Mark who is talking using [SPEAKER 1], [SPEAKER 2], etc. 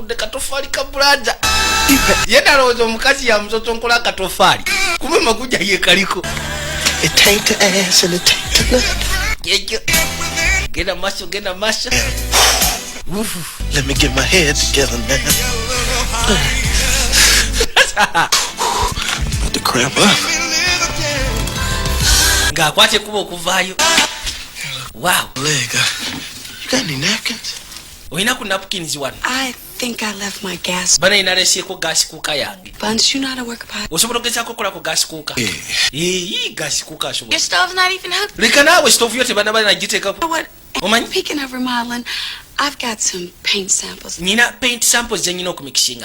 [SPEAKER 1] yamutudde katofaali ka bulaza ye nalowooza omukazi yamusosonkola akatofaali kuba maguja yekaliko ekyo
[SPEAKER 2] genda maaso
[SPEAKER 1] genda maaso
[SPEAKER 2] Let me get my head together, man. Put the crap up.
[SPEAKER 1] ng'akwata ekkuba okuvaayo wow Leg. uh,
[SPEAKER 2] You got any napkins? olina ku
[SPEAKER 1] napkins wano
[SPEAKER 3] bana ina lesyeko gasi
[SPEAKER 1] kuuka yange
[SPEAKER 3] osobola ogezako okola ku gasi
[SPEAKER 1] kuuka eh. eyi gasi kuuka asoboleka
[SPEAKER 3] naawe sitovu yo tebana
[SPEAKER 1] bana giteekako omanyi
[SPEAKER 3] nyina paint samples
[SPEAKER 1] zenyina okumikisinga